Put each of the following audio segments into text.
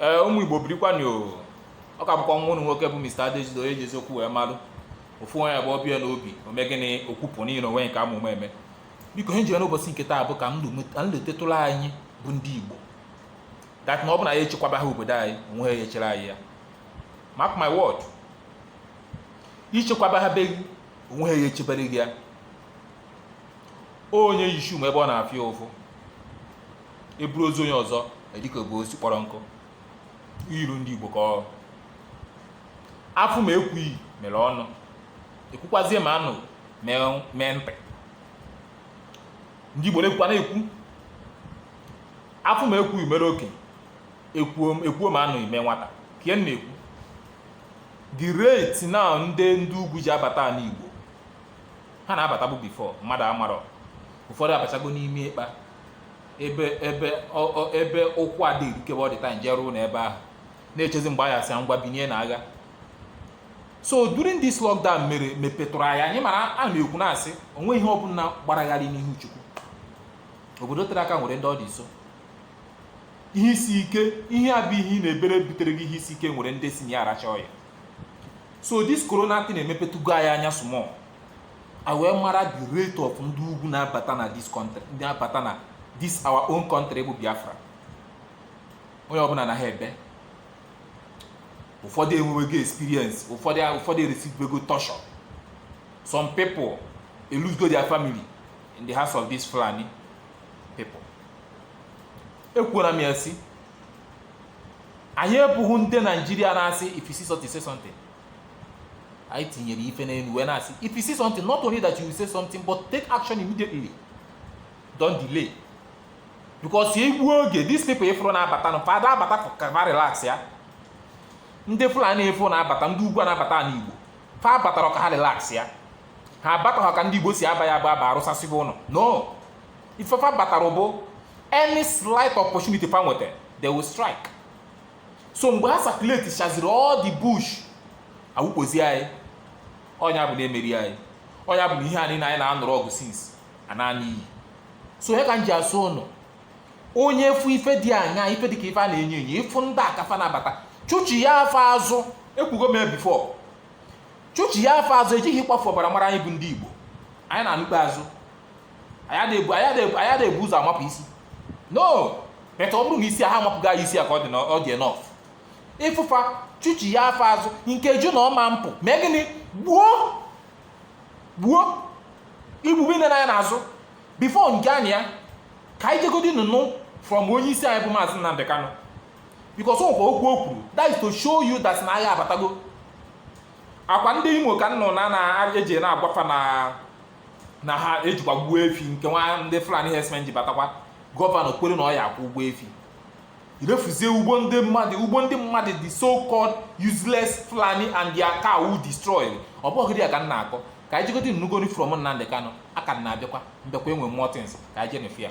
ee ụmụ igbo birikwanụ ọ ka bụkwa nwa ụnụ nwoke bụ Mr. Adejido onye ji eziokwu wee malụ ofu onye bụ ọbịa n'obi ome gịnị okwupụ niile onwe nke amụma eme biko ihe m jiri n'ụbọchị nke taa bụ ka m letetụla anyị bụ ndị igbo that na ọ bụ na anyị echekwabaha obodo anyị onweha echere anyị ya mark my word i chekwabaha be gị onweha echebere gị ya onye yi shoe ma ebe ọ na-afụ ya ụfụ eburu ozu onye ọzọ adịka ebu osisi kpọrọ nkụ ilu ndị igbo ka ọ afụ ma ekwughị mere ọnụ ekwukwazie ma anụ mee- mee ntị ndị igbo na-ekwukwa na-ekwu afụ ma ekwughị mere okenye ekwuo ma anụghị mee nwata ka ihe m na-ekwu the rate na ndị ndị ugwu ji abata ala igbo ha na-abatabu before mmadụ amarọ ụfọdụ abachago n'ime ịkpa ebe ebe ọ- ọ- ebe ụkwụ adịghị erukebe all the time jee ruo n'ebe ahụ na-echezi mgbe a ya-asị ha ngwa binie na agha so during this lockdown mere mepetụrụ anyị anya mara ana m ekwu na-asị onwe ihe ọbụla gbara gharịị n'ihu chukwu obodo tere aka nwere ndị ọ dị nso ihe isi ike ihe a bụ ihe ị na-ebere butere gị ihe isi ike nwere ndị si na ya aracha oil so this corona thing emepetugo anyị anya small anyị wee mara the rate of ndị ugwu na-abata na this country ji abata na this our own country bụ Biafra onye ọbụla na ha ebe ụfọdụ enwewego experience ụfọdụ ụfọdụ ereceivebego torture some people elosego their family in the hands of this Fulani people ekwuola m ya sị anyị abụghị ndị naijiria na-asị if you see something say something anyị tinyere ife n'elu wee na-asị if you see something not only that you will say something but take action immediately don't delay because egbuo oge these people ị fụrụ na-abata nụ fa ada abata ka fa relax ya ndị fulani ị fụ na-abata ndị ugwu na-abata ala igbo fa abatarọ ka ha relax ya ha abataghị ka ndị igbo si aba ya bụ aba arụsasịba ụlọ no ife fa batara bụ any slight opportunity fa nweta they will strike so mgbe ha circulate chaziri all the bush awụkpozi anyị ọ nya bụ na emerie anyị ọ nya bụ na ihe anyị na anyị na-anụrụ ọgụ since anaa n'iyi so ya ka m ji asị ụnụ onye fụ ife dị anya ife dị ka ife a na-enyo enyo ị fụ ndị a ka fa na-abata chụchiya fa azụ ekwugo m ya before chụchiya fa azụ ejighị ịkwafu ọbara mara anyị bụ ndị igbo anyị na-anụ ikpeazụ anyị ada ebu ụzọ amapụ isi no matter ọ bụrụ na isi a ha amapụghị anyị isi a ka ọ dị na ọ dị enough ịfụ fa chụchie fa azụ nkeju na ọma mpụ mee gịnị gbuo gbuo igbugbe nne n'anya n'azụ before nke anyị ya ka anyị jegodi nụnụ from onye isi anyị bụ maazị Nnamdi Kanu because ọkwa okwu o kwuru that is to show you that na agha abatago ọkwa ndị Imo ka nnụ na na-eji na-agwa fa na na ha ejikwa gbuo efi nke nwa ndị Fulani herdsmen ji batakwa gọvanọ kwere na ọ ya-akwụ ụgwọ efi irefuzie ugbo ndị mmadụ ugbo ndị mmadụ the so called useless Fulani and their cow destroyed ọ bụghị dị ya ka m na-akọ ka anyị jegodi nụgodi from Nnamdi Kanu aka m na-abịakwa m bịakwa e nwe more things ka anyị jenefe ya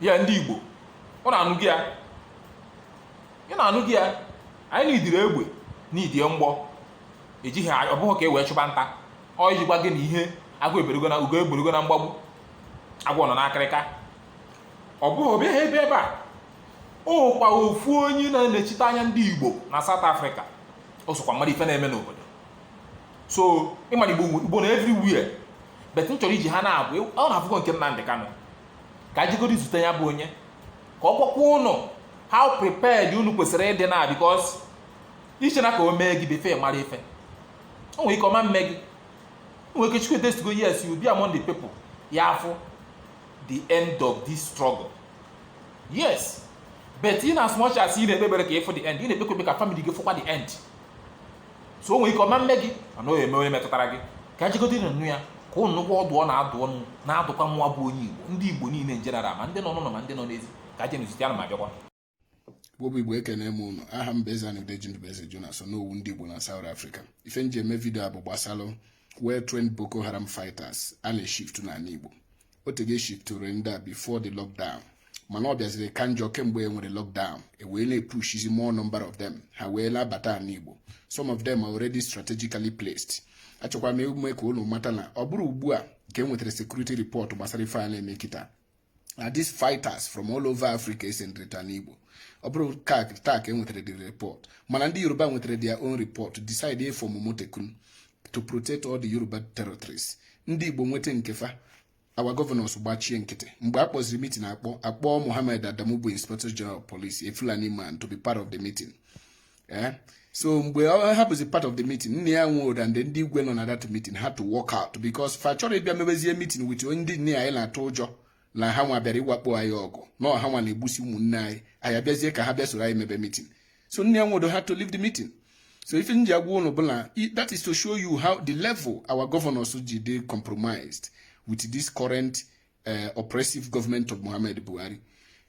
ya ndị igbo unu anụgo ya unu anụgo ya anyị na-idiri egbe n'idie mgbọ ejighị ọ bụghị ka e wee chụba nta ọ iji gwa gị na ihe agụ eberugo na ugo eberugo na mgbagbu agwọ nọ n'akịrịka ọ bụghị ọbịa ha ebe ebe a ọkwa ofu onye na-anọchite anya ndị igbo na South Africa o sokwa mara ife na-eme n'obodo so ịmara igbo nọ everywhere but m chọrọ iji ha na-abụ unu afụgo nke Nnamdi Kanu ka jegodi zute ya bụ onye ka ọ gwakwa unu how prepared unu kwesịrị ịdị na because i che na ka o mee gị before ị mara ife o nwere ike ọ ma-eme gị o nwere ike chukwu edesigo yes you be among the people ya-afụ the end of this struggle yes but in as much as ị na-ekpe ekpere ka ị fụ the end ị na-ekpekwa ekpe ka family gị fụkwa the end so o nwere ike ọ ma-eme gị mana o eme onye metụtara gị ka jegodi na-anụ ya ka unu nụkwa ọdụ ọ na-adụ unu na-adụkwa nwa bụ onye igbo ndị igbo niile in general ma ndị nọ n'ụlọ ma ndị nọ n'ezi ka jenụ zute ya ana m abịakwa Igbo bụ Igbo ekene m unu aha m bụ Eze-Ana Udeji Ndubueze Jonas Onowu ndị Igbo na South Africa ife m ji eme vidio a bụ gbasalụ well trained Boko Haram fighters a na-eshift n'ala Igbo o tego e shiftụrụ ndị a before the lockdown mana ọ bịaziri ka njọ kemgbe e nwere lockdown e wee na-epushizi more number of them ha wee na-abata ala Igbo some of them are already strategically placed achọkwa m ime ka unu mata na ọ bụrọ ugbu a ka e nwetara security report gbasara ife a na-eme kịta na these fighters from all over Africa esendrịta n'Igbo ọ bụrọ kịtaa ka e nwetara the report mana ndị Yoruba nwetara their own report decide ịfọmụ Amotekun to protect all the Yoruba territories ndị Igbo nweta nke fa our governors gbachie nkịtị mgbe a kpọziri meeting akpọ akpọ Mohammed Adamu bụ Inspector General of Police a Fulani man to be part of the meeting eh? so mgbe ọ bụzi part of the meeting Nnia Nwodo and ndị igwe nọ na that meeting had to walk out because fa chọrọ ịbịa mebezie meeting with ndị nne ya anyị na-atụ ụjọ na ha nwa bịara ịwakpo anyị ọgụ na ọ ha nwa na-egbusi ụmụnne anyị anyị abịazie ka ha bịa soro anyị mebe meeting so Nnia Nwodo had to leave the meeting so ife m ji agwa ụnụ bụ na that is to show you how the level our governors ji dị compromised with this current eh, oppressive government of Muhammad Buhari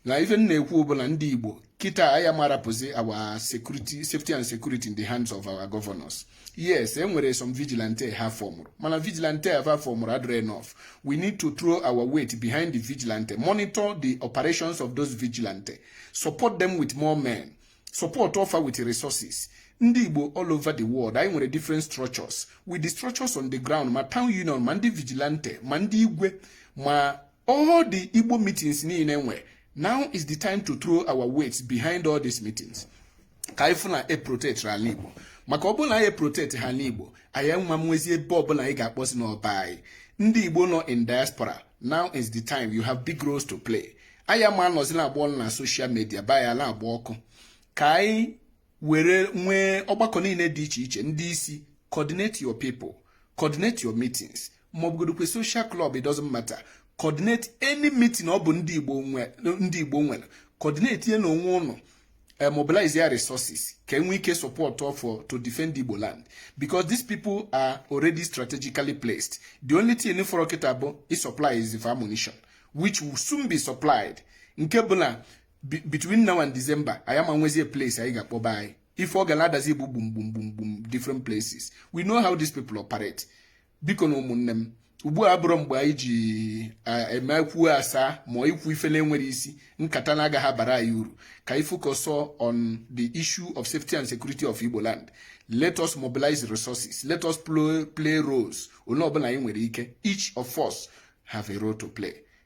na ife m na-ekwu bụ na ndị Igbo kịta anyị ama rapụzi our security safety and security in the hands of our governors yes e nwere some vigilante ha fọmụrụ mana vigilante ha fọmụrụ adịrọ enough we need to throw our weight behind the vigilante monitor the operations of those vigilante support them with more men supportụọ fa with resources ndị igbo all over the world anyị nwere different structures with the structures on the ground ma town union ma ndị vigilante ma ndị igwe ma All the Igbo meetings niile e nwe now is the time to throw our weight behind all these meetings ka anyị fụ na e protect ala Igbo maka ọ bụrụ na anyị protectighị ala Igbo anyị ama nwezi ebe ọbụla anyị ga-akpọzi na ọ be anyị ndị Igbo nọ in diaspora now is the time you have big roles to play anyị ama nọzi na-agba ọnụ na social media be anyị ana-agba ọkụ ka anyị were nwee ọgbakọ niile dị iche iche ndị isi coordinate your people coordinate your meetings ma ọ bụgodukwa social club it doesn't matter coordinate any meeting ọ bụ ndị Igbo ndị Igbo nwere coordinatienụ onwe ụnụ eh, mobilize their resources ka e nwee ike support fa to defend Igbo land because these people are already strategically placed the only thing fọrọ kịta bụ ịsupplyzi ammunition which will soon be supplied nke bụ na between now and December anyị ama nwezie place anyị ga-akpọ be anyị ife ọ ga na-adazi bụ gbum gbum gbum gbum different places we know how these people operate bikonu ụmụnne m ugbu a abụrọ mgbe anyị ji eme ekwuo asaa ma ikwu ife na-enwerọ isi nkata na-agaghị abara anyị uru ka anyị focus on the issue of safety and security of Igbo land let us mobilize resources let us play roles onye ọbụla anyị nwere ike each of us have a role to play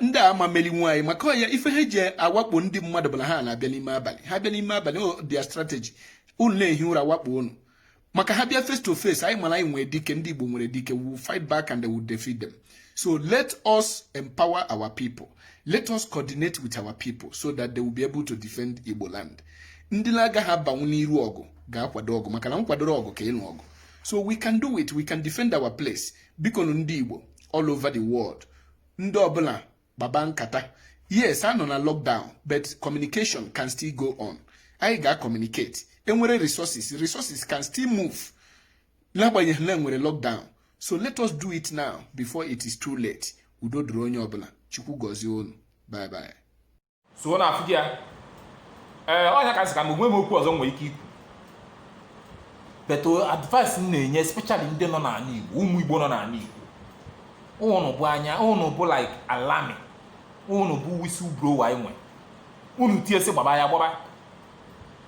ndị a ama melinwu anyị maka ọ ya ife ha ji awakpo ndị mmadụ bụ na ha na-abịa n'ime abalị ha bịa n'ime abalị ọ their strategy unu na-ehi ụra wakpo unu maka ha bịa face to face anyị ma na anyị nwere dike ndị Igbo nwere dike we will fight back and they will defeat them so let us empower our people let us coordinate with our people so that they will be able to defend Igbo land ndị na-agaghị abanwu n'iru ọgụ ga-akwado ọgụ maka na nkwado ọgụ ka ịnụ ọgụ so we can do it we can defend our place biko ndị Igbo all over the world ndị ọbụla gbaba nkata yes a nọ na lockdown but communication can still go on anyị ga-acommunicate enwere resources resources can still move n'agbanyeghị na enwere lockdown so let us do it now before it is too late udo dịrị onye ọbụla chukwu gọzie unu bye bye so na-afụ ya ee ọ nya ka m sị ka mgbe m okwu ọzọ nwere ike ikwu but uh, advice m na-enye especially ndị nọ n'ala Igbo ụmụ Igbo nọ n'ala Igbo ụnụ bụ anya ụnụ bụ like alarm ụnụ bụ whistle blower anyị nwe ụnụ tie sị gbaba anyị agbaba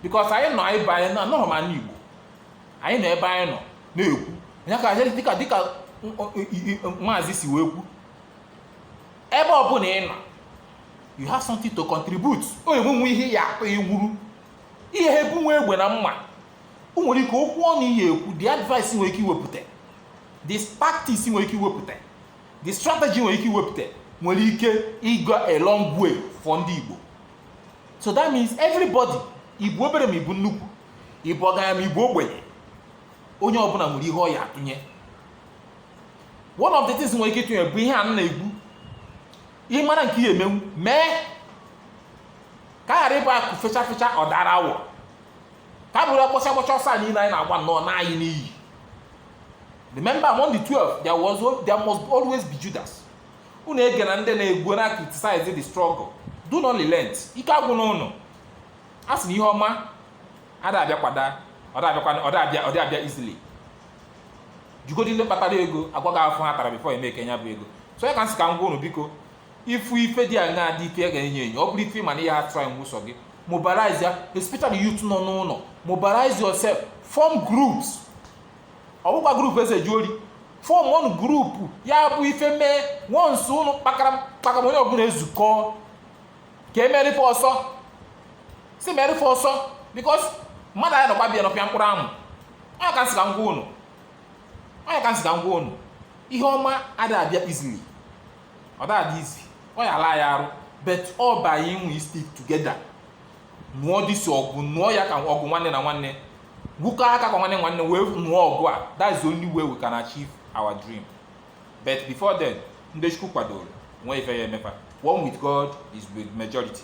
because anyị nọ anyị ebe anyị na-anọghị n'ala Igbo anyị nọ ebe anyị nọ na-ekwu nya ka dịka dịka maazị si wee kwu ebe ọbụla ị nọ you have something to contribute o nwenwe ihe ị ya akpa ọ wụrọ ị ya ebu nwa egbe na mma o nwere ike okwu ọnụ ị ya ekwu the advice i nwere ike iwepụta the tactics i nwere ike iwepụta the strategy i nwere ike iwepụta nwere ike go a long way for ndị Igbo so that means everybody ị bụ obere ma ị bụ nnukwu ị bụ ọgaranya ma ị bụ ogbenye onye ọbụla nwere ihe ọ ya atụnye one of the things i nwere ike ịtụnye bụ ihe a m na-ekwu ị mara nke ị ya emenwu mee ka ọ ghara ịbụ akụ fecha fecha ọ dara awọ ka ọ bụrụ a gbachaa a gbachaa ọsọ a niile anyị na-agba nụ ọ naa anyị n'iyi remember among the 12 there was al- there must always be judas unu egena ndị na-ekwu na-criticize the struggle do not relent ike agwụna ụnụ a sị na ihe ọma ada abịakwada ọ da abịakwa ọ da abịa ọ da abịa easily jụgodi ndị kpatara ego agwa gị afụfụ ha tara before emake nya bụ ego so nya ka m sị ka m gwa unu biko ị fụ ife dị aṅa dị ife ga-enye enyo ọ bụrụ ife ị ma na ị ya trynwụ sọ gị mobilize ya especially youth nọ n'ụlọ mobilize yourself form groups ọ bụkwa group e ji ezu ori form one group ya bụ ife mee once ụnụ kpakara kpakara onye ọbụla ezukọ ka e mere ife ọsọ si mere ife ọsọ because mmadụ aya anọkwa be ya nọpịa mkpụrụ amụ ọ nya ka m sị ka m gwa unu ọ nya ka m sị ka m gwa unu ihe ọma ada abịa easily ọ da adị easy ọ ya ala ya arụ but ọ bụ anyị wee stick together nụọ this ọgụ nụọ ya ka ọgụ nwanne na nwanne gwukọ aka ka nwanne nwanne wee nụọ ọgụ a that's the only way we can achieve our dream but before then ndị chukwu kwadoro nwee ife ya eme fa one with god is with majority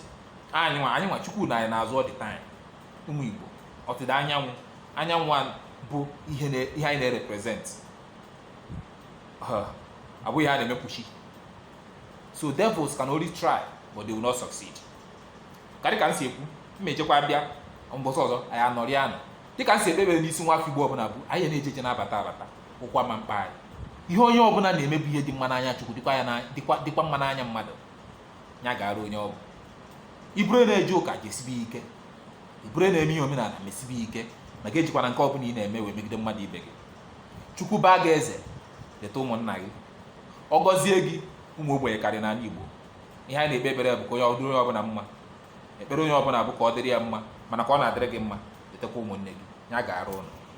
anyị nwa anyị nwa chukwu nọ anyị n'azụ all the time ụmụ igbo ọdịda anyanwụ anyanwụ a bụ ihe na- ihe anyị na-represent abụghị ihe a na-emekpuchi so devils can only try but they will not succeed ka dịka m si ekwu m ejekwa bịa mbọsị ọzọ anyị anọrịa nụ dịka m si ekpebere n'isi nwa afọ igbo ọbụla bụ anyị na-eje eje na-abata abata ụkwa ma mkpa anyị ihe onye ọbụla na-eme bụ ihe dị mma n'anya chukwu dịkwa ya dịkwa dịkwa mma n'anya mmadụ ya gaara onye ọ bụ ị bụrụ na-eje ụka jesibe ike ị bụrụ na-eme ihe omenala mesibe ike ma gị ejikwana nke ọbụla ị na-eme wee megide mmadụ ibe gị chukwu baa gị eze leta ụmụnna gị ọ gọzie gị ụmụ ogbenye karị n'ala igbo ihe anyị na-ekpe ekpere bụ ka onye ọ dịrị onye ọbụla mma ekpere onye ọbụla bụ ka ọ dịrị ya mma mana ka ọ na-adịrị gị mma letakwa ụmụnne gị ya gaara ụnụ